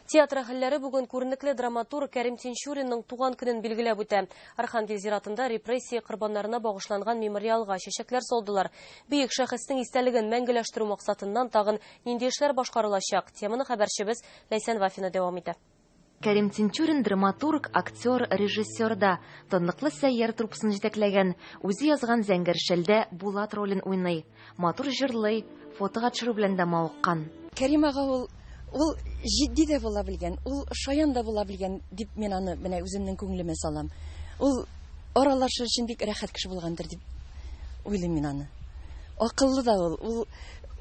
Театр әһелләре бүген күренекле драматург Кәрим Тинчуринның туган көнен билгеләп үтә. Архангел зиратында репрессия корбаннарына багышланган мемориалга чәчәкләр салдылар. Бөек шәхеснең истәлеген мәңгеләштерү максатыннан тагын нинди эшләр башкарылачак? Теманы хәбәрчебез Ләйсән Вафина дәвам итә. Кәрим Тинчурин драматург, актер, режиссер да. Танлыклы Сәйяр труппасын җитәкләгән. Үзе язган Зәңгәр шәлдә Булат ролен уйный. Матур җырлый, фотога төшерү белән дә мавыккан. Кәрим ага ул, ул җитди дә була белгән, ул шаян да була белгән, дип мин аны менә үземнең күңелемә салам. Ул аралашыр өчен бик рәхәт кеше булгандыр дип уйлыйм мин аны. Акыллы да ул, ул,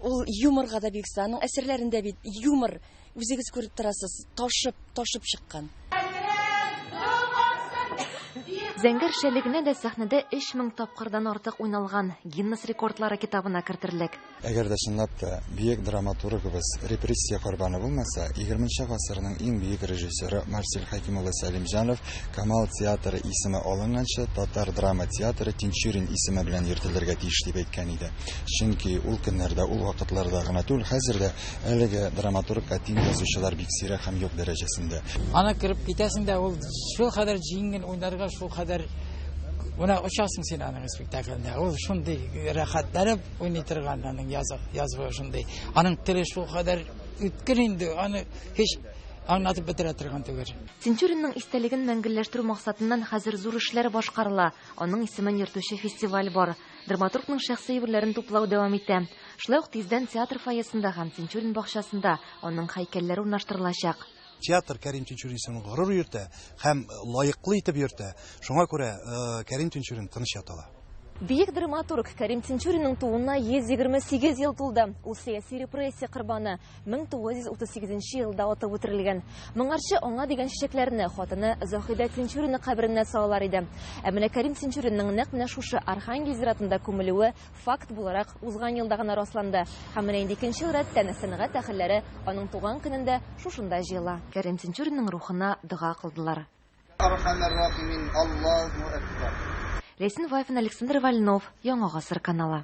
ул юморга да бик оста. Аның әсәрләрендә бит юмор. Үзегез күреп торасыз, ташып, ташып чыккан. Зәңгәр шәлегенә дә сәхнәдә 3000 тапкырдан артык уйналган, Гиннес рекордлары китабына кертерлек. Әгәр дә чынлап та бөек драматургыбыз репрессия корбаны булмаса, егерме нче гасырның иң бөек режиссеры Марсель Хәким улы Сәлимҗанов Камал театры исеме алынганчы татар драма театры Тинчурин исеме белән йөртелергә тиеш дип әйткән иде. Чөнки ул көннәрдә, ул вакытларда гына түгел, хәзер дә Әлеге драматург әти язучылар бик сирәк һәм юк дәрәҗәсендә. Ана кереп китәсең дә ул шул хәдәр җиңел уйнарга шул хәдәр Менә очасың син аның спектакльдә. Ул шундый рәхәтләнеп уйный торган аның язык, язуы шундый. Аның теле шул кадәр үткер инде, аны һич аңлатып бетерә торган түгел. Тинчуринның истәлеген мәңгелләштерү максатыннан хәзер зур эшләр башкарыла. Аның исемен йөртүче фестиваль бар. Драматургның шәхси әйберләрен туплау дәвам итә. Шулай ук тиздән театр фойесында һәм Тинчурин бакчасында аның һәйкәлләре урнаштырылачак. Театр Кәрим Тинчурин исемен горур йөртә һәм лаеклы итеп йөртә. Шуңа күрә Кәрим Тинчурин тыныч ята ала. Бөек драматург Кәрим Тинчуринның тууына 128 ел тулды. Ул сәяси репрессия корбаны. 1938 нче елда атып үтерелгән. Моңарчы аңа дигән чәчәкләрне хатыны Заһидә Тинчурина каберенә салалар иде. Ә менә Кәрим Тинчуринның нәкъ менә шушы Архангель зиратында күмелүе факт буларак узган елда гына расланды. Һәм менә инде икенче ел рәттән сәнгать әһелләре аның туган көнендә шушында җыела. Кәрим Тинчуринның рухына дога кылдылар. Ләйсән Вафин, Александр Вольнов, Яңа гасыр каналы.